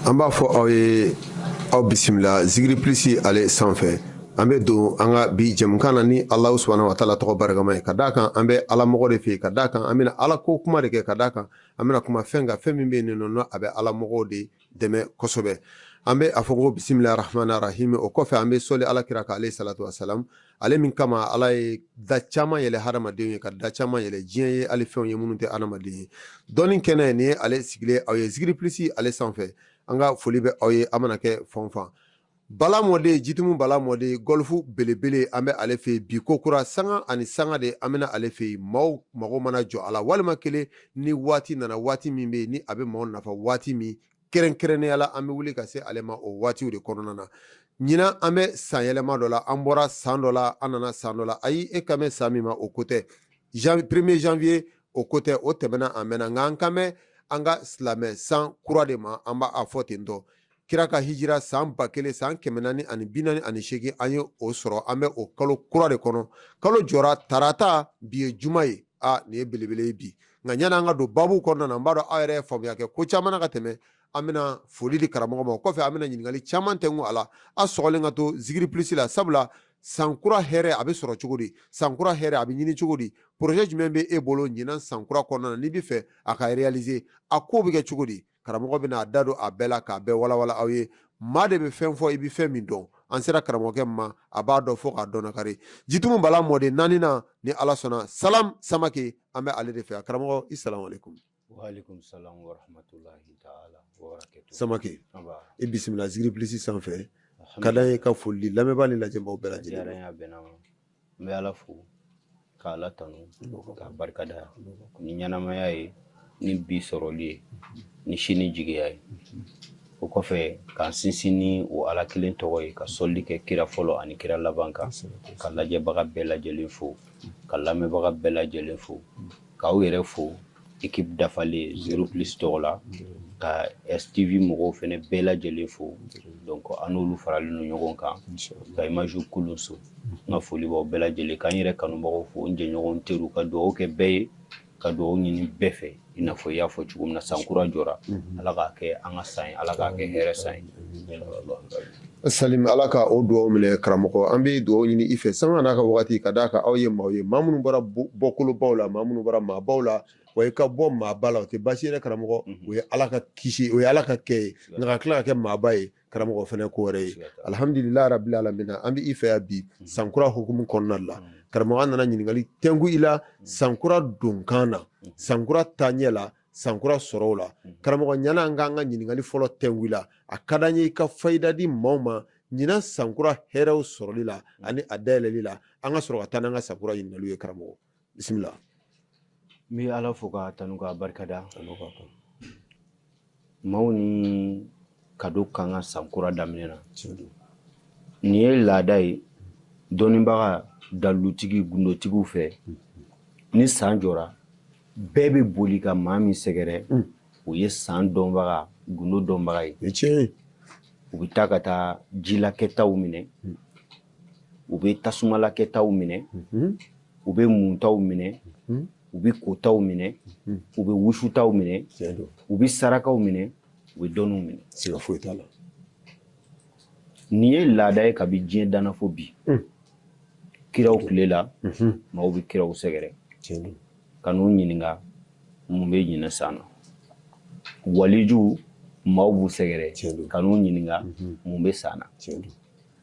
an b'a fɔ aw ye aw bisimila zigiri plus ale sanfɛ an bɛ don an ka bi jɛmukan na ni alahu subahana wa taala tɔgɔ barikama ye ka d' a kan an bɛ alamɔgɔ de fɛ ka d' a kan an bɛna ala ko kuma de kɛ ka d' a kan an bɛna kuma fɛn ka fɛn min bɛ nin kɔnɔ a bɛ alamɔgɔ de dɛmɛ kosɛbɛ an bɛ a fɔ ko bisimila arahamani arahimi o kɔfɛ an bɛ sɔli ala kira kan aleyi salatu sa ale min kama ala ye da caman yɛlɛ hadamadenw ye ka da caman yɛlɛ diɲɛ ye hali fɛnw ye minnu tɛ hadamaden ye dɔnni kɛnɛ nin ye ale sigilen aw ye zigiri plus ale sanfɛ an ka foli bɛ aw ye aw mana kɛ fan fan bala mɔden jitumu bala mɔden gɔlifu belebele an bɛ ale fɛ bi ko kura sanga ani sanga de an bɛna ale fɛ maaw mago mana jɔ a la walima kelen ni waati nana waati min bɛ yen ni a bɛ maaw nafa waati min kɛrɛnkɛrɛnnenya la an bɛ wuli ka se ale ma o waatiw de kɔnɔna na ɲinan an bɛ san yɛlɛma dɔ la an bɔra san dɔ la an nana san dɔ la ayi e kan bɛ san min ma o ko tɛ premier janvier o ko tɛ o tɛmɛna a mɛnna nka an kan bɛ an ka silamɛ san kura de ma an b'a fɔ ten tɔ kira ka hijira san ba kelen san kɛmɛ naani ani bi naani ani seegin an ye o sɔrɔ an bɛ o kalo kura de kɔnɔ kalo jɔra tarata bi ye juma ye aa nin ye belebele ye bi nka ɲani an ka don babu kɔnɔna na n b'a dɔn aw yɛrɛ ye faamuya kɛ ko caman na ka tɛmɛ an bɛna foli di karamɔgɔ ma o kɔfɛ an bɛna ɲininkali caman tɛngu a la a sɔgɔlen ka to zigiri plus la sabula sankura hɛrɛ a bɛ sɔrɔ cogo di sankura hɛrɛ a bɛ ɲini cogo di projet jumɛn bɛ e bolo ɲinan sankura kɔnɔna na n'i b'a fɛ a ka réaliser a ko bɛ kɛ cogo di karamɔgɔ bɛna a da don a bɛɛ la k'a bɛɛ walawala aw ye maa de bɛ fɛn fɔ i bɛ fɛn min dɔn an sera karamɔgɔkɛ ma a b'a dɔn fo k'a dɔnnakari jitumu bala mɔden naaninan ni ala sɔnna salam samake an bɛ ale de fɛ a karamɔgɔ i salamu alekum samake i bisimila zigiri plus sanfɛ ka ye ka foli lamɛnbaa ni lajɛbaaw bɛɛ lajɛlen N bɛ ala fo ka ala tanu k'a barikada ni ɲɛnamaya ye ni bi sɔrɔli ye ni sini jigiya ye o kɔfɛ k'an sinsin ni o ala kelen tɔgɔ ye ka sɔli kɛ kira fɔlɔ ani kira laban kan ka lajɛbaga bɛɛ lajɛlen fo ka lamɛnbaga bɛɛ lajɛlen fo k'aw yɛrɛ fo équipe dafalen zigiri plus tɔgɔ la ka STV mɔgɔw fɛnɛ bɛɛ lajɛlen fo donc an n'olu faralen don ɲɔgɔn kan ka image kulun so n ka foli b'aw bɛɛ lajɛlen ka n yɛrɛ kanubagaw fo n jɛɲɔgɔn n teriw ka dugawu kɛ bɛɛ ye ka dugawu ɲini bɛɛ fɛ i n'a fɔ i y'a fɔ cogo min na san kura jɔra ala k'a kɛ an ka san ye ala k'a kɛ hɛrɛ san ye Salim ala ka o dugaw minɛ karamɔgɔ an bɛ dugaw ɲini i fɛ sanga n'a ka waati ka d'a kan aw ye maaw ye maa minnu bɔra bɔkolobaw la maa minnu bɔra maabaw la wa i ka bɔ maaba la o tɛ baasi yɛrɛ karamɔgɔ o ye ala ka kisi o ye ala ka kɛ ye nka ka tila ka kɛ maaba ye karamɔgɔ fana ko wɛrɛ ye alihamdulilahi rabil alamina an bɛ i fɛ bi sankura hukumu kɔnɔna la karamɔgɔ an nana ɲininkali tɛngu i la sankura donkan na sankura ta ɲɛ la sankura sɔrɔw la karamɔgɔ ɲana an k'an ka ɲininkali fɔlɔ tɛnku i la a ka d'an ye i ka fayida di maaw ma ɲinan sankura hɛrɛw sɔrɔli la ani a dayɛlɛli la an ka sɔrɔ ka taa n'an ka sankura ɲininkaliw ye karamɔgɔ bisimila n bɛ ala fo ka tanu ka barikada maaw ni kado kan ka san kura daminɛ na nin ye laada ye dɔnnibaga dalutigi gundotigiw fɛ ni san jɔra bɛɛ bɛ boli ka maa min sɛgɛrɛ mm. o ye san dɔnbaga gundo dɔnbaga ye u bɛ taa ka taa jilakɛtaw minɛ mm. u bɛ tasumalakɛtaw minɛ mm-hmm. u bɛ muntaw minɛ mm-hmm. u bɛ kotaw minɛ mm-hmm. u bɛ wusutaw minɛ u bɛ sarakaw minɛ u bɛ dɔnniw minɛ siga foyi t'a la nin ye laada ye kabi diɲɛ danna fo bi hmm. kiraw tile la mhm. maaw bɛ kiraw sɛgɛrɛ ka n'u ɲininka mun bɛ ɲinɛ san na walijuw maaw b'u sɛgɛrɛ ka n'u ɲininka mhm. mun bɛ san na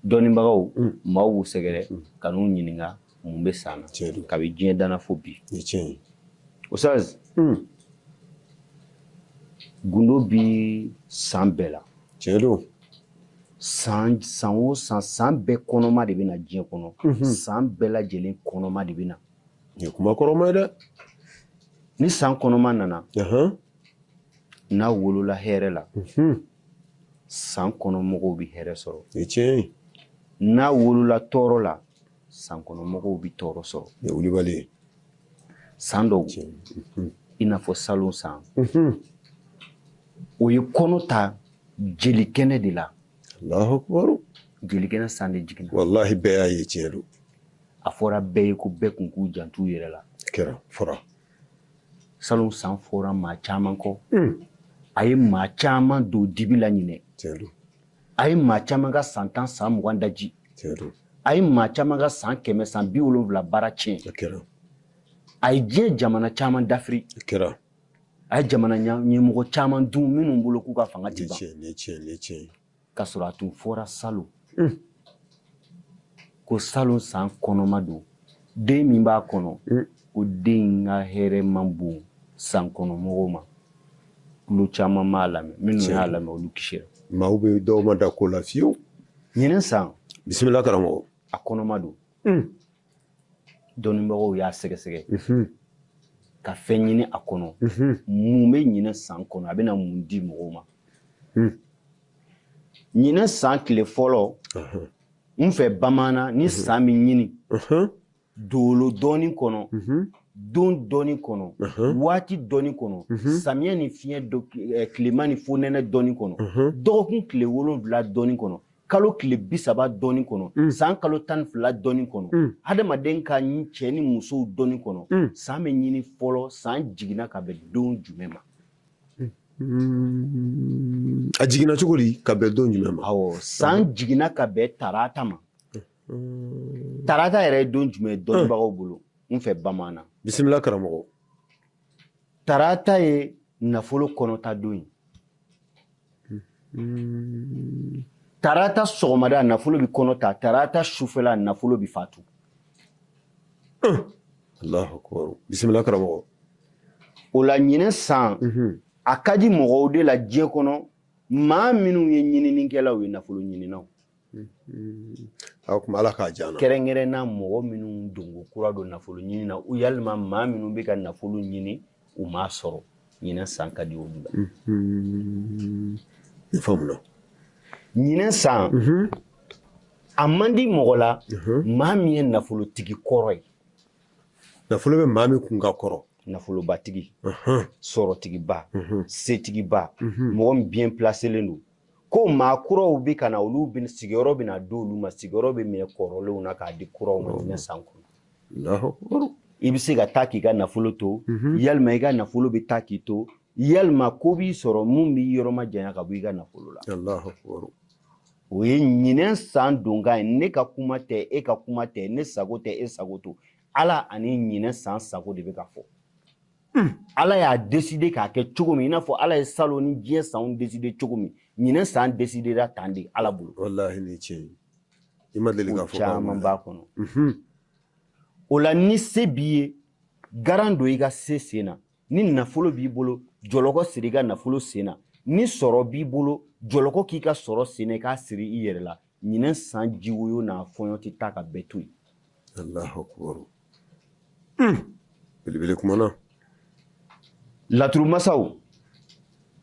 dɔnnibagaw hmm. maaw b'u sɛgɛrɛ hmm. ka n'u ɲininka mun bɛ san na kabi diɲɛ danna fo bi ustaz hmm. gundo bɛ san bɛɛ la tiɲɛ don san san o san san bɛɛ kɔnɔma de bɛ na diɲɛ kɔnɔ mhm. san bɛɛ lajɛlen kɔnɔma de bɛ na nin ye kuma kɔrɔma ye dɛ ni san kɔnɔma nana n'a wolola hɛrɛ la mhm. san kɔnɔ mɔgɔw bɛ hɛrɛ sɔrɔ n'a wolola tɔɔrɔ la san kɔnɔ mɔgɔw bɛ tɔɔrɔ sɔrɔ wulibali ye san dɔw cɛ mhm. i n'a fɔ salon san mhm. o ye kɔnɔ ta jeli kɛnɛ de la alahukubaru jeli kɛnɛ san de jiginna walahi bɛɛ y'a ye tiɲɛ don a fɔra bɛɛ ye ko bɛɛ kun k'u jant'u yɛrɛ la kɛra fɔra salon san fɔra maa caman kɔ mm. a ye maa caman don dibi la ɲinɛ tiɲɛ don a ye maa caman ka san tan san mugan daji a ye maa caman ka san kɛmɛ san bi wolonwula baara tiɲɛ a ye diɲɛ jamana caman dafiri a ye jamana ɲɛmɔgɔ caman dun minnu bolo k'u ka fanga tɛ ban k'a sɔrɔ a tun fɔra salon ko salon san kɔnɔma don den min b'a kɔnɔ mm. ko den ka hɛrɛ man bon san kɔnɔmɔgɔw ma tulo caman m'a lamɛn minnu y'a lamɛn olu kisira maaw bɛ dɔw ma da ko la fiyewu ɲinɛ san bisimila karamɔgɔ a kɔnɔma don mm. dɔnnibagaw y'a sɛgɛsɛgɛ ka fɛn ɲini a kɔnɔ mun bɛ ɲinɛ san kɔnɔ a bɛna mun di mɔgɔw ma ɲinɛ san tile fɔlɔ n fɛ bamaana ni san bɛ ɲini dolo dɔnni kɔnɔ don dɔnni kɔnɔ waati dɔnni kɔnɔ samiyɛ ni fiɲɛ tilema ni fonɛnɛ dɔnni kɔnɔ dɔgɔkun tile wolonwula dɔnni kɔnɔ kalo tile bi saba dɔnni kɔnɔ mm. san kalo tan fila dɔnni kɔnɔ mm. hadamaden ka cɛ ni musow dɔnni kɔnɔ mm. san bɛ ɲini fɔlɔ san jiginna ka bɛn don jumɛn ma a jiginna cogo di ka bɛn don jumɛn ma awɔ san jiginna ka bɛn tarata ma tarata yɛrɛ ye don jumɛn dɔnnibagaw bolo n fɛ bamanan bisimila karamɔgɔ tarata ye nafolo kɔnɔta don ye hmm. tarata sɔgɔmada nafolo bɛ kɔnɔ ta tarata sufɛla nafolo bɛ fatu hmm. alahu akubar bisimila karamɔgɔ o la ɲinɛ san hmm. a ka di mɔgɔw de la diɲɛ kɔnɔ maa minnu ye ɲininikɛlaw ye nafolo ɲininaw A tuma ala k'a diya kɛrɛnkɛrɛnna mɔgɔ minnu donko kura don nafolo ɲini na yalima maa minnu bɛ ka nafolo ɲini u m'a sɔrɔ ɲinɛ san ka di olu la ɲinɛ san a man di mɔgɔ la maa min ye nafolotigi kɔrɔ ye nafolo bɛ maa min kun ka kɔrɔ nafolobatigi sɔrɔtigiba setigiba mɔgɔ biyɛn plaselen don ko maa kuraw bɛ ka na olu sigiyɔrɔ bɛ na di olu ma sigiyɔrɔ bɛ minɛ kɔrɔlenw na k'a di kuraw ma ɲinɛ san kɔnɔ i bɛ se ka taa k'i ka nafolo to mhm. yalima i ka nafolo bɛ taa k'i to yalima ko b'i sɔrɔ mun b'i yɔrɔ majanya ka bɔ i ka nafolo la o ye ɲinɛ san donkan ye ne ka kuma tɛ e ka kuma tɛ ne sago tɛ e sago tɛ ala ani ɲinɛ san sago de bɛ ka fɔ ala y'a deside k'a kɛ cogo min i n'a fɔ ala ye salon ni diɲɛ sanw deside cogo min ɲinɛ san desidera tan de ala bolo caman b'a kɔnɔ mhm. o la ni se b'i ye garan don i ka se sen na ni nafolo b'i bolo jɔlɔkɔ siri i ka nafolo sen na ni sɔrɔ b'i bolo jɔlɔkɔ k'i ka sɔrɔ sen na i k'a siri i yɛrɛ la ɲinɛ san jiwoyo n'a fɔɲɔ tɛ taa ka bɛɛ to yen alahu akubaru hmm. belebele kumana laturu masaw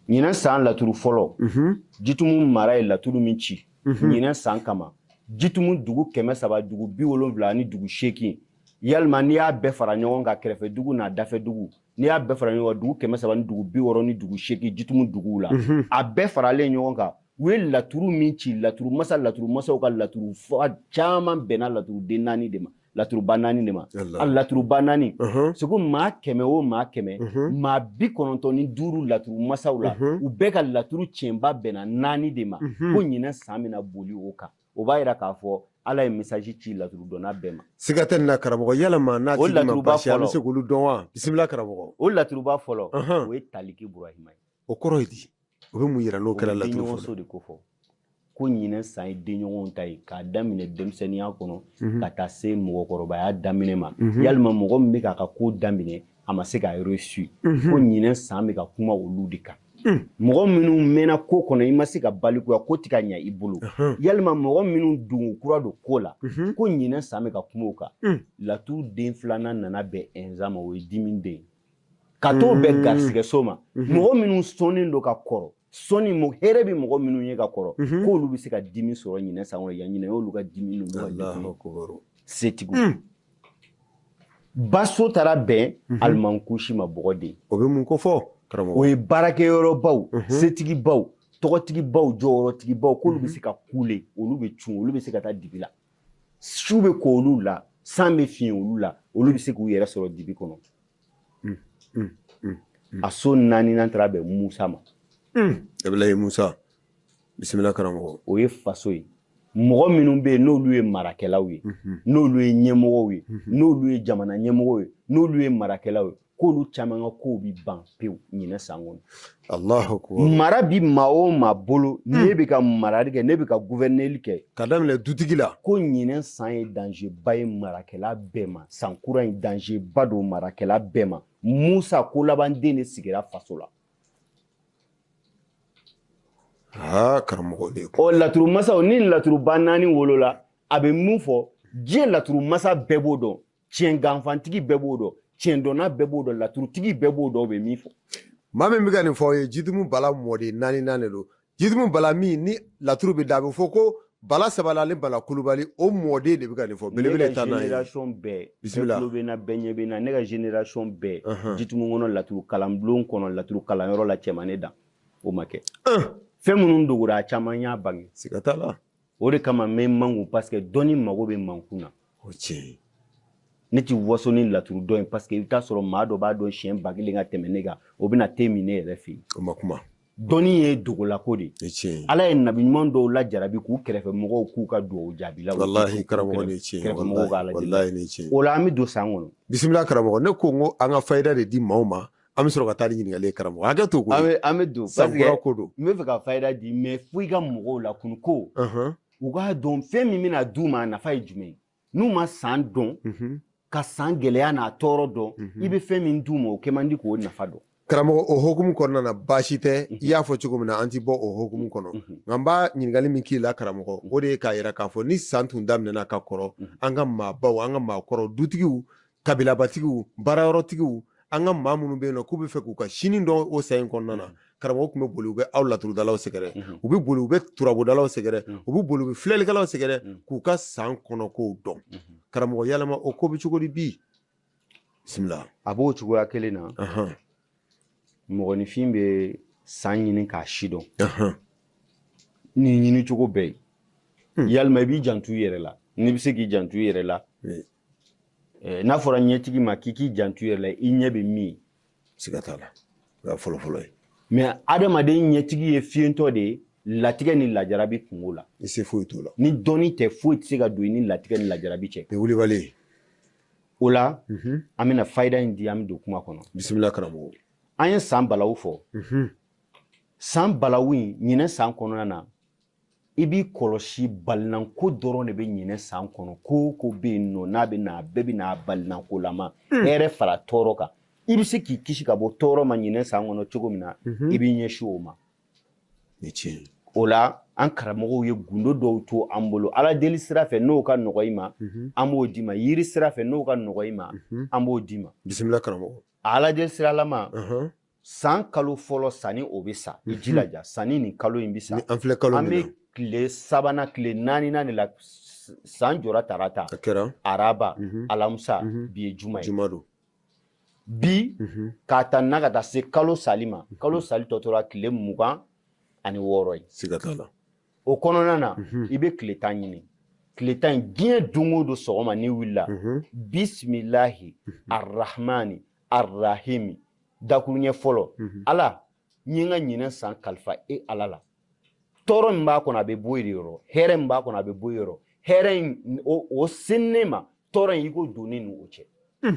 ɲinɛ san laturu fɔlɔ mhm. jitumu mara ye laturu min ci mhm. ɲinɛ san kama jitumu dugu kɛmɛ saba dugu bi wolonwula ani dugu seegin yalima n'i y'a bɛɛ fara ɲɔgɔn kan kɛrɛfɛ dugu n'a dafɛ dugu n'i y'a bɛɛ fara ɲɔgɔn kan dugu kɛmɛ saba ni dugu bi wɔɔrɔ ni dugu seegin jitumu duguw la mhm. a bɛɛ faralen ɲɔgɔn kan u ye laturu min ci laturu masa laturu masaw ka laturu fa caman bɛnna laturu den naani de ma laturu ba naani de ma a laturu ba naani uh-huh. segu maa kɛmɛ o maa kɛmɛ uh-huh. maa bi kɔnɔntɔn ni duuru laturu masaw la uh-huh. u bɛɛ ka laturu tiɲɛba bɛnna naani de ma ko ɲinɛ san bɛna boli o kan o b'a yira k'a fɔ ala ye message ci laturu dɔnna bɛɛ ma siga tɛ nin na karamɔgɔ yalama n'a tigi ma basi an bɛ se k'olu dɔn wa bisimila karamɔgɔ o laturuba fɔlɔ o ye taliki burahima ye o kɔrɔ ye di o bɛ mun yira n'o kɛra laturu fɔlɔ de ko fɔ ko ɲinɛ san ye denɲɔgɔnw ta ye k'a daminɛ denmisɛnninya kɔnɔ mhm. ka taa se mɔgɔkɔrɔbaya daminɛ ma mhm. yalima mɔgɔ min bɛ k'a ka ko daminɛ a ma se k'a reçu mhm. ko ɲinɛ san bɛ ka kuma olu de kan mɔgɔ minnu mɛnna ko kɔnɔ i ma se ka balikuya ko ti ka ɲa i bolo yalima mɔgɔ minnu dungu kura don ko la ko ɲinɛ san bɛ ka kuma o kan laturu den filanan nana bɛn ɛnza ma o ye dimi den ka t'o bɛn mm. garisigɛso ma mm-hmm. mɔgɔ minnu sɔnnen don ka kɔrɔ sɔni mo hɛrɛ bɛ mɔgɔ minnu ye ka kɔrɔ mm-hmm. k'olu bɛ se ka dimi sɔrɔ ɲinɛ san kɔnɔ yan ɲinɛ y'olu ka dimi ninnu ka setigiw mm. baso taara bɛn mm-hmm. alimankusi ma bɔgɔ de o bɛ mun ko fɔ karamɔgɔ o ye baarakɛyɔrɔbaw setigibaw tɔgɔtigibaw jɔyɔrɔtigibaw k'olu bɛ se ka kule olu bɛ cun olu bɛ se ka taa dibi la su bɛ ko olu la san bɛ fiɲɛ olu la olu bɛ se k'u yɛrɛ sɔrɔ dibi kɔnɔ a so naaninan taara bɛn musa ma abulayi musa bisimila karamɔgɔ o ye faso ye mɔgɔ minnu bɛ yen n'olu ye marakɛlaw ye n'olu ye ɲɛmɔgɔw ye n'olu ye jamana ɲɛmɔgɔw ye n'olu ye marakɛlaw ye k'olu caman ka kow bi ban pewu ɲinɛ san kɔnɔ mara bi maa o maa bolo hmm. ne bɛ ka marali kɛ ne bɛ ka guvɛrɛneli kɛ ka daminɛ dutigi la ko ɲinɛ san ye danger ba ye marakɛla bɛɛ ma san kura in danger ba don marakɛla bɛɛ ma musa ko laban den de sigira faso la aa karamɔgɔ de ɔ laturu masaw ni laturuba naani wolola a bɛ min fɔ diɲɛ laturu masa bɛɛ b'o dɔn tiɲɛ ganfantigi bɛɛ b'o dɔn tiɲɛ dɔnna bɛɛ b'o dɔn laturutigi bɛɛ b'o dɔn o bɛ min fɔ maa min bɛ ka nin fɔ o ye jitumu bala mɔden naaninan de don jitumu bala min ni laturu bɛ da a bɛ fɔ ko bala sabala ni bala kulubali o mɔden de bɛ ka nin fɔ belebele ta n'a ye ne ka generation bɛɛ bisimila tulo bɛ n na bɛɛ ɲɛ bɛ n na ne ka generation bɛɛ jitumu kɔnɔ laturu kalanbulon kɔnɔ laturu kalanyɔrɔ la cɛmanin dan o ma kɛ fɛn minnu dogora a caman y'a bange siga t'a la o de kama n bɛ n mankun parce que dɔnni mago bɛ mankun na o tiɲɛ ye ne ti waso ni laturu dɔn ye parce que i bɛ taa sɔrɔ maa dɔ b'a dɔn siɲɛ ba kelen ka tɛmɛ ne kan o bɛna te min ne yɛrɛ fɛ yen o ma kuma dɔnni ye dogolako de ye ala ye nabi ɲuman dɔw lajarabi k'u kɛrɛfɛ mɔgɔw k'u ka dugawu jaabila walahi karamɔgɔ ni tiɲɛ kɛrɛfɛ mɔgɔw ka ala walahi ni tiɲɛ o la an bɛ don san kɔnɔ bisimila karamɔgɔ ne ko n ko an ka fayida de di maaw ma an bɛ sɔrɔ ka taa ni ɲininkali ye karamɔgɔ hakɛ to ko an bɛ an bɛ don sankura ko don n bɛ fɛ ka fayida di mɛ fo i ka mɔgɔw la kun ko u k'a dɔn fɛn min bɛna d'u ma a nafa ye jumɛn ye n'u ma san dɔn mhm. ka san gɛlɛya n'a tɔɔrɔ dɔn mhm. i bɛ fɛn min d'u ma o kɛ man di k'o nafa dɔn karamɔgɔ o hokumu kɔnɔna na baasi tɛ mhm. i y'a fɔ cogo min na an ti bɔ o hokumu kɔnɔ nka n bɛ ɲininkali min k'i la karamɔgɔ o de ye k'a yira k'a fɔ ni san tun daminɛna ka kɔrɔ an ka maabaw an ka maakɔrɔ dutigiw kabilabatigiw baarayɔrɔtigiw an ka maa minnu bɛ yen nɔ k'u bɛ fɛ k'u ka sini dɔn o san in kɔnɔna na karamɔgɔ tun bɛ boli u bɛ aw laturudalaw sɛgɛrɛ u bɛ boli u bɛ turabudalaw sɛgɛrɛ u bɛ boli u bɛ filɛlikɛlaw sɛgɛrɛ k'u ka san kɔnɔkow dɔn karamɔgɔ yalama o ko bɛ cogo di bi bisimila a b'o cogoya kelen na mɔgɔninfin bɛ san ɲini k'a si dɔn ni ɲini cogo bɛɛ ye yalima i b'i jantu i yɛrɛ la n'i bɛ se k'i jantu i yɛrɛ la n'a fɔra ɲɛtigi ma k'i k'i jantu i yɛrɛ la i ɲɛ bɛ min ye siga t'a la o y'a fɔlɔfɔlɔ ye mɛ adamaden ɲɛtigi ye fiyentɔ de ye latigɛ ni lajarabi kungo la i se foyi t'o la ni dɔnni tɛ foyi tɛ se ka don i ni latigɛ ni lajarabi cɛ ni wulibali ye o la mhm. an bɛna fayida in di an bɛ don kuma kɔnɔ bisimila karamɔgɔ an ye san balawu fɔ mhm. san balawu in ɲinɛ san kɔnɔna na i b'i kɔlɔsi balinanko dɔrɔn de bɛ ɲinɛ san kɔnɔ ko o ko bɛ yen nɔ n'a bɛ na a bɛɛ bɛ na balinankolama hmm. hɛrɛ fara tɔɔrɔ kan i bɛ se k'i kisi ka bɔ tɔɔrɔ ma ɲinɛ san kɔnɔ cogo min na mhm. i b'i ɲɛsin o ma o la an karamɔgɔw ye gundo dɔw to an bolo ala deli sira fɛ n'o ka nɔgɔ i ma mhm. an b'o d'i ma yiri sira fɛ n'o ka nɔgɔ i ma mhm. an b'o d'i ma bisimila karamɔgɔ ala deli siralama san kalo fɔlɔ sanni o bɛ sa i mhm. jilaja sanni nin kalo in bɛ sa an filɛ kalo min na an bɛ tile sabanan tile naaninan de la san jɔra tarata a kɛra araba mhm. alamusa mhm. bi ye juma ye juma don bi k'a ta na ka taa se kalo sali ma kalo sali tɔ tora tile mugan ani wɔɔrɔ ye siga t'a la o kɔnɔna na i bɛ tile tan ɲini tile tan in diɲɛ don o don sɔgɔma n'i wulila bisimilahi arahmani arahimi dakuruɲɛ fɔlɔ mhm. ala n ye n ka ɲinɛ san kalifa e ala la tɔɔrɔ min b'a kɔnɔ a bɛ bɔ yen yɔrɔ hɛrɛ min b'a kɔnɔ a bɛ bɔ yen yɔrɔ hɛrɛ in o sin ne ma tɔɔrɔ in i kɔ don ne ni o cɛ hmm.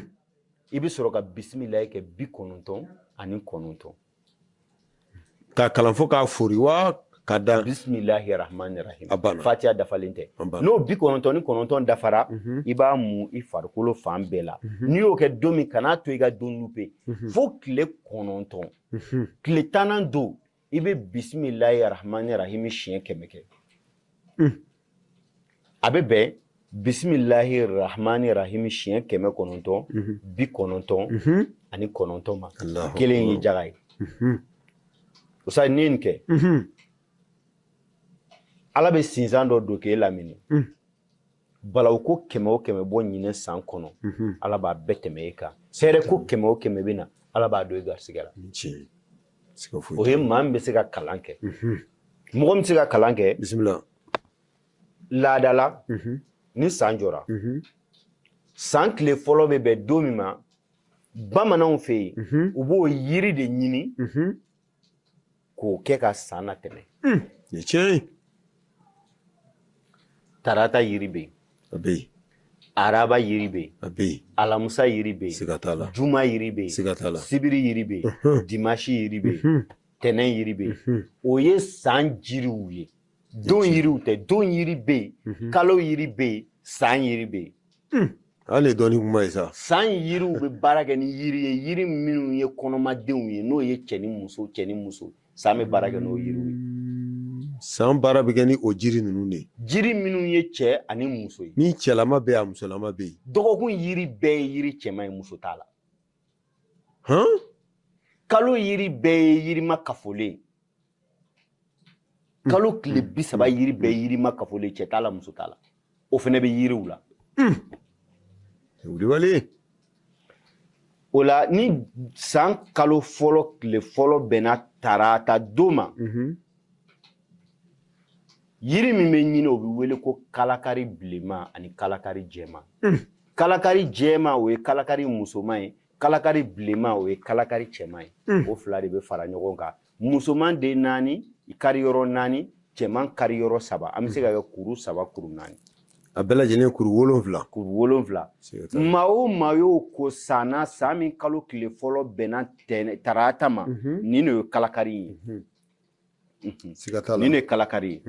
i bɛ sɔrɔ ka bisimilayi kɛ bi kɔnɔntɔn ani kɔnɔntɔn k'a kalan fo k'a foori wa ka dan bisimilahi rahmani rahim a banna fatiya dafalen tɛ n'o bi kɔnɔntɔn ni kɔnɔntɔn dafara mhm. i b'a mu i farikolo fan bɛɛ la mhm. n'i y'o kɛ don min kan'a to i ka don lupe mhm. fo tile kɔnɔntɔn tile tannan don i bɛ bisimilahi rahmani rahim siɲɛ kɛmɛ kɛ mm. a bɛ bɛn bisimilahi rahmani rahimi siɲɛ kɛmɛ kɔnɔntɔn bi kɔnɔntɔn ani kɔnɔntɔn ma kelen ye jaga ye o sa ni nin kɛ ala bɛ sinsan dɔ don k'e lamini balawu ko kɛmɛ o kɛmɛ bɔ ɲinɛ san kɔnɔ ala b'a bɛɛ tɛmɛ e kan hɛrɛ ko kɛmɛ o kɛmɛ bɛ na ala b'a don i garisigɛ la o ye maa min bɛ se ka kalan kɛ mɔgɔ min bɛ se ka kalan kɛ bisimila laada la ni san jɔra san tile fɔlɔ bɛ bɛn don min ma bamananw fɛ yen u b'o yiri de ɲini k'o kɛ ka san natɛmɛ tiɲɛ tarata yiri bɛ yen a bɛ yen araba yiri bɛ yen a bɛ yen alamusa yiri bɛ yen siga t'a la juma yiri bɛ yen siga t'a la sibiri yiri bɛ yen dimasi yiri bɛ yen tɛnɛn yiri bɛ yen o ye san jiriw ye don yiriw tɛ don yiri bɛ yen kalo yiri bɛ yen san yiri bɛ yen hali ye dɔɔni kuma ye sa san yiriw bɛ baara kɛ ni yiri ye yiri minnu ye kɔnɔmadenw ye n'o ye cɛ ni muso cɛ ni muso san bɛ baara kɛ n'o yiriw ye san baara bɛ kɛ ni o jiri ninnu de ye jiri minnu ye cɛ ani muso ye ni cɛlama bɛ yen a musolama bɛ yen dɔgɔkun yiri bɛɛ ye yiri cɛman ye muso t'a la hɔn kalo yiri bɛɛ ye yirima kafolen ye kalo tile bi saba yiri bɛɛ ye yirima kafolen cɛ t'a la muso t'a la o fana bɛ yiriw la wulibali o la ni san kalo fɔlɔ tile fɔlɔ bɛnna tarata don ma yiri min bɛ ɲini o bɛ wele ko kalakari bilenman ani kalakari jɛman kalakari jɛman o ye kalakari musoman ye kalakari bilenman o ye kalakari cɛman ye o fila de bɛ fara ɲɔgɔn kan musoman den naani kari yɔrɔ naani cɛman kari yɔrɔ saba an bɛ se ka kɛ kuru saba kuru naani a bɛɛ lajɛlen kuru wolonfila kuru wolonfila maa o maa y'o ko sanna san min kalo tile fɔlɔ bɛnna tarata ma mhm. nin de ye kalakari ye mhm. Mhm. nin de ye kalakari ye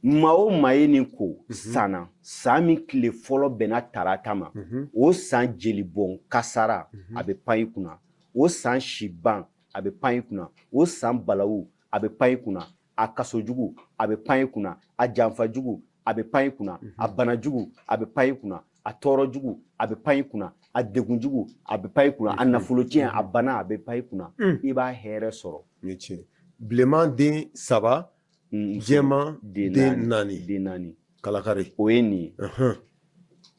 maa o maa ye nin ko sanna san min tile fɔlɔ bɛnna tarata ma o san jelibɔn kasara a bɛ pan i kunna o san siban a bɛ pan i kunna o san balawu a bɛ pan i kunna a kaso jugu a bɛ pan i kunna a janfa jugu a bɛ pan i kunna mhm. a bana jugu a bɛ pan i kunna a tɔɔrɔ jugu a bɛ pan i kunna a degun jugu a bɛ pan i kunna a mhm. nafolo cɛn a mhm. bana a bɛ pan i kunna i b'a hɛrɛ sɔrɔ bilenman den saba jɛman den naani den naani kalakari o ye nin ye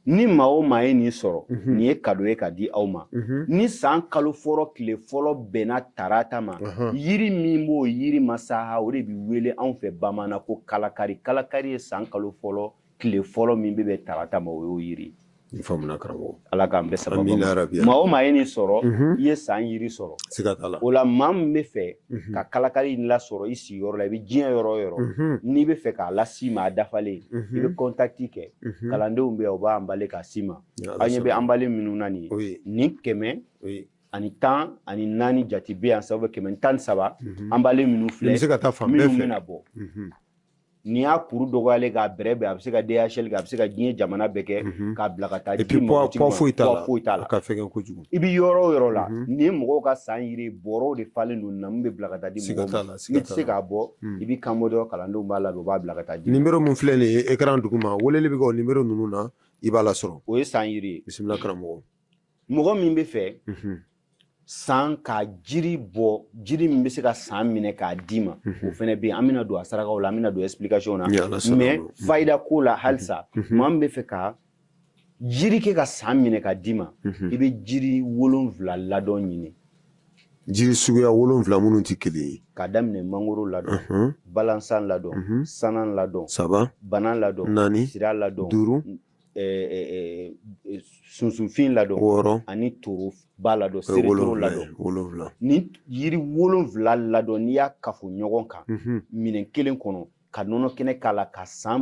ni maa o maa ye nin sɔrɔ nin ye kado ye ka di aw ma ni san kalo fɔlɔ tile fɔlɔ bɛnna tarata ma yiri min b'o yiri masaha o de bɛ wele anw fɛ bamanan ko kalakari kalakari ye san kalo fɔlɔ tile fɔlɔ min bɛ bɛn tarata ma o y'o yiri ye faamuna karamɔgɔ ala k'an bɛɛ sababu Amina ma. rabi. maa o maa ye nin sɔrɔ Mhm. i ye san yiri sɔrɔ siga t'a la o la maa min bɛ fɛ Mhm. ka kalakali in lasɔrɔ i sigiyɔrɔ la i bɛ diɲɛ yɔrɔ o yɔrɔ Mhm. n'i bɛ fɛ k'a lase i ma a dafalen i Mhm. bɛ kɔntakiti kɛ Mhm. kalandenw bɛ yan u b'a anbale k'a ci i ma Ni Ala aw ɲɛ bɛ sɔnna. anbale minnu na nin ye Oui, nin kɛmɛ oui. ani tan ani naani jate bɛ yan sabu kɛmɛ ni tan ni saba Mhm. anbale minnu Nin filɛ bɛ se ka taa fan bɛɛ minnu fɛ bɛna bɔ Mhm. n'i y'a kuru dɔgɔyalen k'a bɛrɛ bɛn a bɛ se ka DHL kɛ a bɛ se ka diɲɛ jamana bɛɛ kɛ mhm. k'a bila ka taa di mɔgɔtigi ma foyi t'a la foyi t'a la a ka fɛgɛn kojugu i bɛ yɔrɔ o yɔrɔ la mhm. nin mɔgɔw ka san yiri bɔrɔw de falen don na min bɛ bila ka taa di mɔgɔw ma n'i tɛ se k'a bɔ hmm. i bɛ kan bɔ dɔrɔn kalandenw b'a labɛn u b'a bila ka taa di nimero min filɛ nin ye ekran duguma weleli bɛ kɛ o nimero ninnu na i b'a lasɔrɔ o ye san yiri ye bisimila karamɔgɔ mɔgɔ min bɛ fɛ san ka jiri bɔ jiri min bɛ se ka san minɛ k'a d'i ma o fana bɛ yen an bɛna don a sarakaw la an bɛna don explication na mɛ fayida ko la halisa maa min bɛ fɛ ka jiri kɛ ka san minɛ k'a d'i ma i bɛ jiri wolonwula ladɔn ɲini jiri suguya wolonwula minnu tɛ kelen ye k'a daminɛ mangoro ladɔn balansan ladɔn sanan ladɔn saba banan ladɔn naani sira ladɔn duuru sunsunfin ladɔn wɔɔrɔ ani toroba ladɔn seretoro ladɔn wolonwula nin yiri wolonwula ladɔn n'i y'a kafo ɲɔgɔn kan minɛn kelen kɔnɔ ka nɔnɔ kɛnɛ k'a la ka san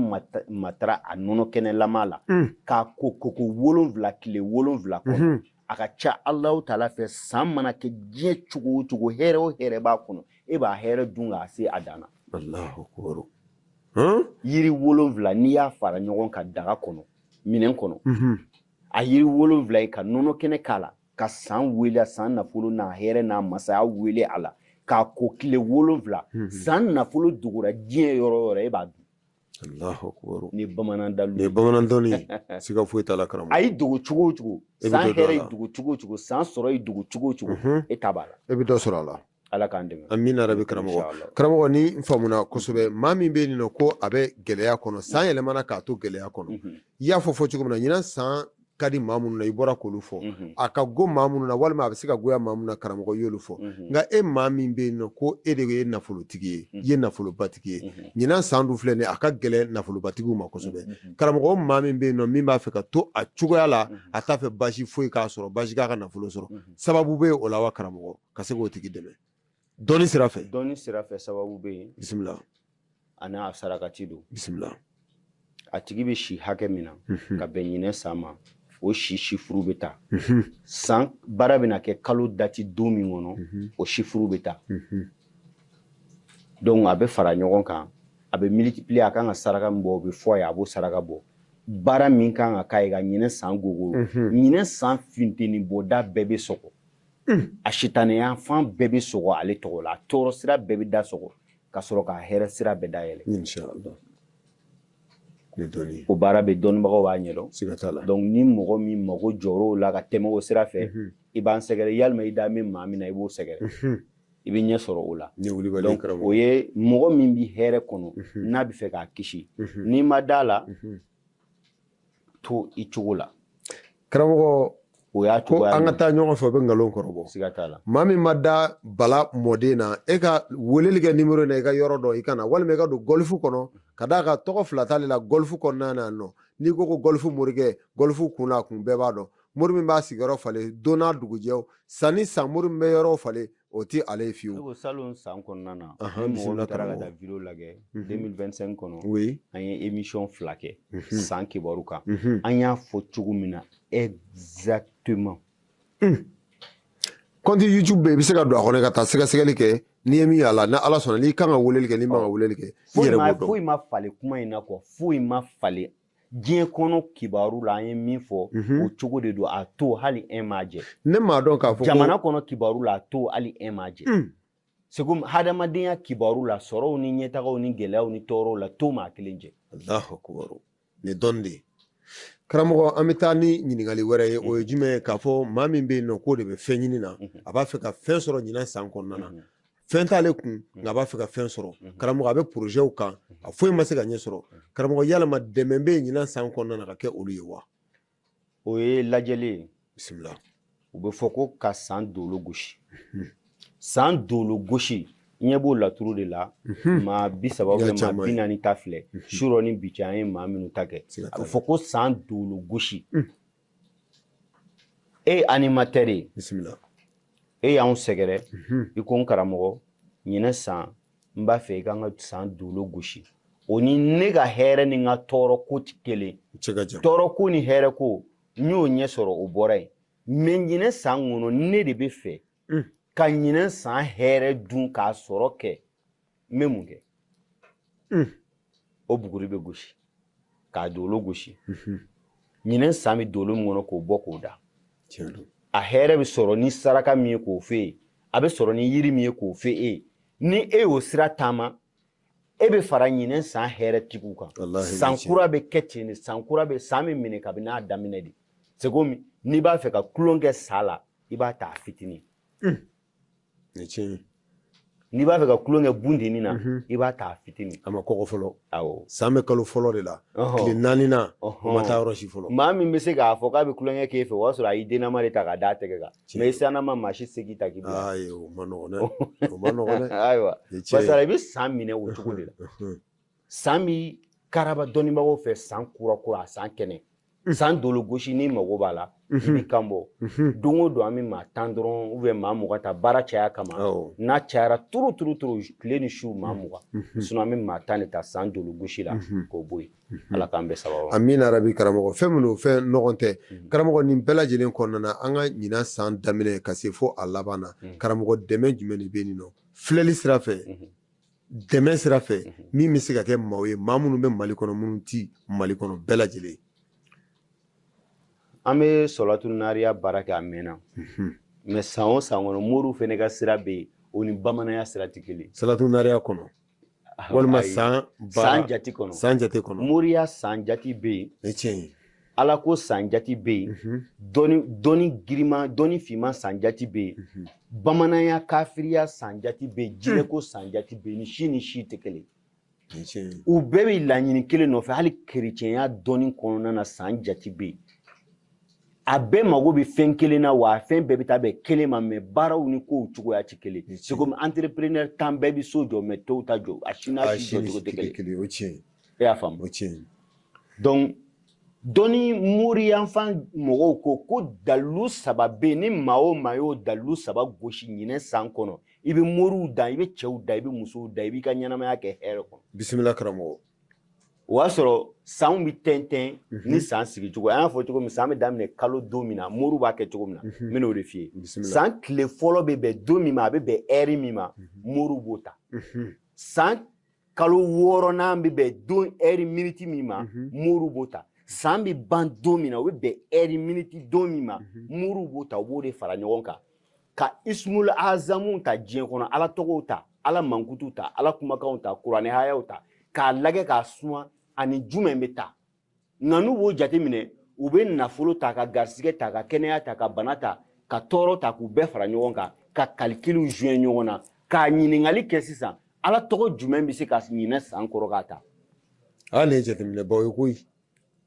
matara a nɔnɔ kɛnɛlama la k'a ko koko wolonwula tile wolonwula kɔnɔ a ka ca alahu taala fɛ san mana kɛ diɲɛ cogo o cogo hɛrɛ o hɛrɛ b'a kɔnɔ e b'a hɛrɛ dun k'a se a dan na yiri wolonwula n'i y'a fara ɲɔgɔn kan daga kɔnɔ minɛn kɔnɔ mhm. a yiri wolonwula ye ka nɔnɔ kɛnɛ k'a la ka san wele a san nafolo n'a hɛrɛ n'a masaya wele a la k'a ko tile wolonwula mhm. san nafolo dogora diɲɛ yɔrɔ o yɔrɔ e b'a dun ni bamanan dalu ni bamanan dɔnni siga foyi t'a la karamɔgɔ a y'i dogo cogo o cogo san hɛrɛ y'i dogo cogo o cogo san sɔrɔ y'i dogo cogo o cogo mhm. e ta b'a la e bɛ dɔ sɔrɔ a la Ala k'an dɛmɛ amina rabi karamɔgɔ karamɔgɔ ne faamuna kosɛbɛ maa min bɛ yen ko a bɛ gɛlɛya kɔnɔ san yɛlɛmana k'a to gɛlɛya kɔnɔ i y'a fɔ fɔ cogo min na ɲinan san ka di maa minnu na i bɔra k'olu fɔ a ka go maa minnu na walima a bɛ se ka goya maa minnu na karamɔgɔ y'olu fɔ nka e maa min bɛ yen ko e de ye nafolotigi ye i ye nafolobatigi ye ɲinan san dun filɛ nin a ka gɛlɛn nafolobatigiw ma kosɛbɛ karamɔgɔ maa min bɛ yen min b'a fɛ ka to a cogoya la a t'a fɛ basi foyi k'a sɔrɔ basi k'a ka nafolo sɔrɔ sababu bɛ o la wa karamɔgɔ ka se k'o tigi dɛmɛ dɔnni sira fɛ dɔnni sira fɛ sababu bɛ yen bisimila ani a sarakati don bisimila a tigi bɛ si hakɛ min na mhm. ka bɛn ɲinɛ san ma o si sifuru bɛ ta mhm. san baara bɛna kɛ kalo dati don min kɔnɔ mhm. o sifuru bɛ ta donc a bɛ fara ɲɔgɔn kan a bɛ multiplier a kan ka saraka min bɔ o bɛ fɔ a ye a b'o saraka bɔ baara min kan ka k'a ye ka ɲinɛ san gogo ɲinɛ san funteni bɔda bɛɛ bɛ sɔgɔ a sitanɛya fan bɛɛ bɛ sɔgɔ ale tɔgɔ la a tɔɔrɔ sira bɛɛ bɛ da sɔgɔ ka sɔrɔ k'a hɛrɛ sira bɛɛ dayɛlɛ o baara bɛ dɔnnibagaw b'a ɲɛdɔn donc ni mɔgɔ min mago jɔr'o la ka tɛmɛ o sira fɛ i b'an sɛgɛrɛ yalima i da bɛ maa min na i b'o sɛgɛrɛ i bɛ ɲɛ sɔrɔ o la donc o ye mɔgɔ min bɛ hɛrɛ kɔnɔ n'a bɛ fɛ k'a kisi n'i ma d'a la to i cogo la karamɔgɔ o y'a ko an ka taa ɲɔgɔn fɛ o bɛ nkalon kɔrɔbɔ siga t'a la maa min ma da bala mɔden na e ka weleli kɛ nimero na i ka yɔrɔ dɔn i ka na walima i ka don gɔlifu kɔnɔ ka d'a kan tɔgɔ fila t'ale la gɔlifu kɔnɔna na nɔ n'i ko ko gɔlifu morikɛ gɔlifu kun na kun bɛɛ b'a dɔn mori min b'a sigiyɔrɔ falen don n'a dugujɛ san ni san mori min bɛ yɔrɔ falen O tɛ ale ye fiyewu. Ne ko salon san kɔnɔna na. Ahan bisimila karamɔgɔ. Ni mɔgɔ min taara ka taa vidéo lajɛ. Unhun. 2025 kɔnɔ. Oui. An ye émission fila kɛ. Unhun. San kibaru kan. Unhun. An y'a fɔ cogo min na exactement. Un! Compte YouTube bɛ yen, i bɛ se ka don a kɔnɔ ka taa sɛgɛsɛgɛli kɛ, n'i ye min y'a la, ni Ala sɔnna, n'i kan ka weleli kɛ, n'i man kan ka weleli kɛ, i yɛrɛ b'o dɔn. Foyi ma falen kuma in na quoi foyi ma falen diɲɛ kɔnɔ kibaru la an ye min fɔ mhm. o cogo de don a to hali un ma jɛ ne m'a dɔn k'a fɔ jamana kɔnɔ kibaru la a to hali un ma jɛ hmm. segu hadamadenya kibaru la sɔrɔw ni ɲɛtagaw ni gɛlɛyaw ni tɔɔrɔw la to ma kelen jɛ alahu akubaru nin dɔn de karamɔgɔ an bɛ taa ni ɲininkali wɛrɛ ye o ye jumɛn ye k'a fɔ maa min bɛ yen nɔ k'o de bɛ fɛn ɲini na mhm. a b'a fɛ ka fɛn sɔrɔ ɲinan san kɔnɔna na mhm. fɛn t'ale kun mm. nka a b'a fɛ ka fɛn sɔrɔ mm-hmm. karamɔgɔ a bɛ porozɛw kan mm-hmm. a foyi ma se ka ɲɛ sɔrɔ mm-hmm. karamɔgɔ yalama dɛmɛ bɛ yen ɲinan san kɔnɔna na ka kɛ olu ye wa o ye lajɛli ye bisimila o bɛ fɔ ko ka san dolo gosi san dolo gosi ɲɛ bɔ laturu de la maa bi saba maa bi naani ta filɛ surɔ ni bi cɛ an ye maa minnu ta kɛ a bɛ fɔ ko san dolo gosi e ye animateur ye bisimila e y'anw sɛgɛrɛ mhm. i ko n karamɔgɔ ɲinɛ san n b'a fɛ i ka n ka san dolo gosi o ni ne ka hɛrɛ ni n ka tɔɔrɔ ko tɛ kelen tɔɔrɔ ko ni hɛrɛ ko n y'o ɲɛ sɔrɔ o bɔra yen mais ɲinɛ san kɔnɔ ne de bɛ fɛ hmm. ka ɲinɛ san hɛrɛ dun k'a sɔrɔ kɛ n bɛ mun kɛ hmm. o buguri bɛ gosi k'a dolo gosi hmm. ɲinɛ san bɛ dolo min kɔnɔ k'o bɔ k'o da a hɛrɛ bɛ sɔrɔ ni saraka min ye k'o f'e ye a bɛ sɔrɔ ni yiri min ye k'o f'e ye ni e y'o sira taama e bɛ fara ɲinɛ san hɛrɛ tigiw kan san kura bɛ kɛ ten de san kura bɛ san bɛ minɛ kabini a daminɛ de c'est comme n'i b'a fɛ ka tulon kɛ sa la i b'a ta a fitinin n'i b'a fɛ ka tulon kɛ bundini na mhm. i b'a ta fitinin a ma kɔgɔ fɔlɔ awɔ san bɛ kalo fɔlɔ de la tile naani na o ma taa yɔrɔ si fɔlɔ maa min bɛ se k'a fɔ k'a bɛ tulonkɛ k'e fɛ o y'a sɔrɔ a y'i dennama de ta k'a d'a tɛgɛ kan mɛ i sannama maa si se k'i ta k'i bila ayi o ma nɔgɔn dɛ o ma nɔgɔn dɛ ayiwa barisa i bɛ san minɛ o cogo de la san bɛ karaba dɔnnibagaw fɛ san kura kura san kɛnɛ san dolo gosi ni mago b'a la i b'i kan bɔ don o don an bɛ maa tan dɔrɔn ubiyɛn maa mugan ta baara caya kama n'a cayara trop trop trop tile ni su maa mugan sinɔn an bɛ maa tan de ta san dolo gosi la k'o bɔ yen ala k'an bɛɛ sababu amina yarabi karamɔgɔ fɛn minnu fɛn nɔgɔn tɛ karamɔgɔ nin bɛɛ lajɛlen kɔnɔna na an ka ɲinan san daminɛ ka se fo a laban na karamɔgɔ dɛmɛ jumɛn de bɛ nin nɔ filɛli sira fɛ dɛmɛ sira fɛ min bɛ se ka kɛ maaw ye maa minnu bɛ mali kɔnɔ minnu tɛ mali kɔnɔ bɛɛ lajɛlen an bɛ salatu nariya baara kɛ a mɛnna mɛ san o san kɔnɔ moriw fana ka sira bɛ yen o ni bamananya sira tɛ kelen salatu nariya kɔnɔ walima san san jate kɔnɔ san jate kɔnɔ moriya san jate bɛ yen tiɲɛ ye ala ko san jate bɛ yen mhm. dɔnni dɔnni girima dɔnni finman san jate bɛ yen mhm. bamananya kafiriya san jate bɛ yen hmm. jinɛko san jate bɛ yen ni si ni si tɛ kelen u bɛɛ bɛ laɲini kelen nɔfɛ hali kerecɛnya dɔnni kɔnɔna na san jate bɛ yen a bɛɛ mago bɛ fɛn kelen na wa a fɛn bɛɛ bɛ taa bɛn kelen ma mɛ baaraw ni kow cogoya tɛ kelen c'est comme entrepreneur tan bɛɛ bɛ so jɔ mɛ tɔw ta jɔ a si n'a si jɔ cogo tɛ kelen e y'a faamu o tiɲɛ donc dɔnni moriya fan mɔgɔw ko ko dalilu saba bɛ yen ni maa o maa y'o dalilu saba gosi ɲinɛ san kɔnɔ i bɛ moriw dan i bɛ cɛw dan i bɛ musow dan i b'i ka ɲɛnamaya kɛ hɛrɛ kɔnɔ bisimila karamɔgɔ o y'a sɔrɔ sanw bɛ tɛntɛn mhm. ni san sigi cogo an y'a fɔ cogo min san bɛ daminɛ kalo don min na moriw b'a kɛ cogo min na mhm. n bɛn'o de f'i ye san tile fɔlɔ bɛ bɛn don min ma a bɛ bɛn ɛri min ma mhm. moriw b'o ta san kalo wɔɔrɔnan bɛ bɛn don ɛri miniti min ma mhm. moriw b'o ta san bɛ ban don min na o bɛ bɛn ɛri miniti don min ma mhm. moriw b'o ta u b'o de fara ɲɔgɔn kan ka ismul azamu ta diɲɛ kɔnɔ ala tɔgɔw ta ala mankutuw ta ala kumakanw ta kuranɛ hayaw ta k'a lagɛ k'a suma ani jumɛn bɛ ta nka n'u b'o jateminɛ u bɛ nafolo ta ka garisigɛ ta ka kɛnɛya ta ka bana ta ka tɔɔrɔ ta k'u bɛɛ fara ɲɔgɔn kan ka kalikiliw joint ɲɔgɔn na k'a ɲininkali kɛ sisan ala tɔgɔ jumɛn bɛ se ka ɲinɛ san kɔrɔ k'a ta aa nin ye jateminɛbaw ye koyi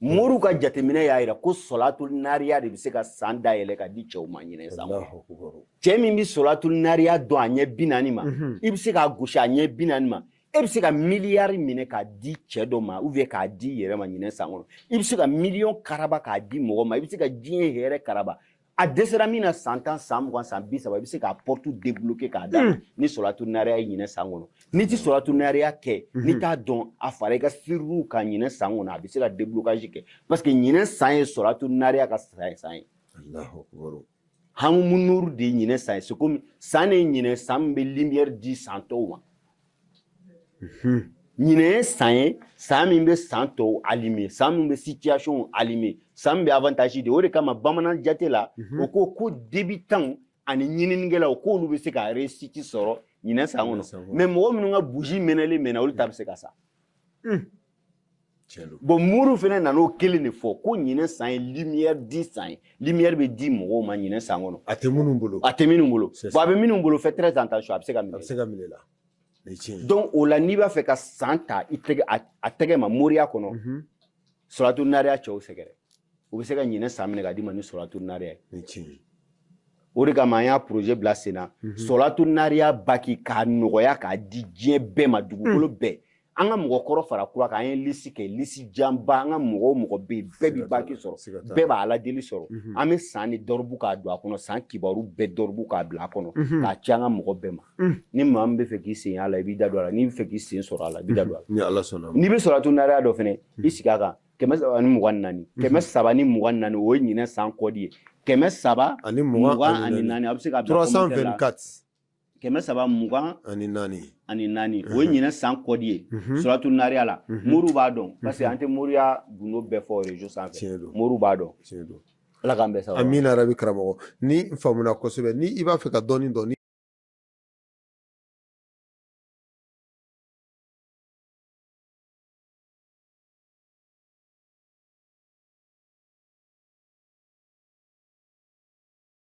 moriw ka jateminɛ y'a jira ko sɔlatul nariya de bɛ se ka san dayɛlɛ ka di cɛw ma ɲinɛ san kɔnɔ cɛ min bɛ sɔlatul nariya dɔn a ɲɛ bi naani ma mhm. i bɛ se k'a gosi a ɲɛ bi naani ma e bɛ se ka miliyari minɛ k'a di cɛ dɔ ma ou bien k'a d'i yɛrɛ ma ɲinɛ san kɔnɔ i bɛ se ka miliyɔn karaba k'a di mɔgɔ ma i bɛ se ka diɲɛ hɛrɛ karaba a dɛsɛra min na san tan san mugan san bi saba i bɛ se k'a pɔrɔtu debloke k'a da hmm. ni sɔlatul nariya ye ɲinɛ san kɔnɔ n'i tɛ sɔlatul nariya kɛ n'i hmm. t'a dɔn a fara i ka siriw kan ɲinɛ san kɔnɔ a bɛ se ka deblokazi kɛ parce que ɲinɛ san ye sɔlatul nariya ka san ye. hamu nuru de ye ɲinɛ san ye c'est comme san de ye ɲinɛ san min bɛ lumière di san tɔw ma ɲinɛ ye san ye san min bɛ san tɔw alime san min bɛ situation alime san min bɛ avantage di o de kama bamanan jate la o ko ko debitanw ani ɲininikɛlaw k'olu bɛ se ka réussite sɔrɔ ɲinɛ san kɔnɔ mais mɔgɔ minnu ka bougie mɛnɛlen mɛnna olu ta bɛ se ka sa bɔn mori fana nana o kelen de fɔ ko ɲinɛ san ye limiyɛri di san ye limiyɛri bɛ di mɔgɔw ma ɲinɛ san kɔnɔ a tɛ minnu bolo a tɛ minnu bolo bɔn a bɛ minnu bolo faites très attention a bɛ se ka minɛ a bɛ se ka minɛ la donc o la n'i b'a fɛ ka san ta i tɛgɛ a tɛgɛ ma moriya kɔnɔ mhm. sɔlatul nariya cɛw sɛgɛrɛ u bɛ se ka ɲinɛ san minɛ ka d'i ma ni sɔlatul nariya ye o de kama an y'a projet bila sen na mhm. sɔlatul nariya baki k'a nɔgɔya k'a di diɲɛ bɛɛ ma dugukolo mm. bɛɛ an ka mɔgɔ kɔrɔ fara kura kan an ye lisi kɛ lisi janba an ka mɔgɔ o mɔgɔ bɛ yen bɛɛ bɛ baki sɔrɔ bɛɛ b'a ala deli sɔrɔ mhm. an bɛ san ni dɔrɔbu k'a don a kɔnɔ san kibaru bɛɛ dɔrɔbu k'a bila a kɔnɔ mhm. k'a ci an ka mɔgɔ bɛɛ ma mhm. ni maa min b'a fɛ k'i sen a la i b'i da don a la n'i b'a fɛ k'i sen sɔrɔ a la i b'i da don a la n'i bɛ sɔlatul nariya dɔn fana i sigi a kan kɛmɛ saba ni mugan ni naani kɛmɛ saba ni mugan ni naani o ye ɲinɛ san kɔdi ye kɛmɛ saba ani mugan ani naani a bɛ se ka bila commentaire la kɛmɛ saba mugan ani naani ani naani o ye ɲinɛ san kɔdi ye sɔlatul nariya la moriw b'a dɔn parce que an tɛ moriya gundo bɛɛ fɔ rezo sanfɛ moriw b'a dɔn ala k'an bɛɛ sababu amina yarabi karamɔgɔ nin faamuna kosɛbɛ ni i b'a fɛ ka dɔɔni dɔn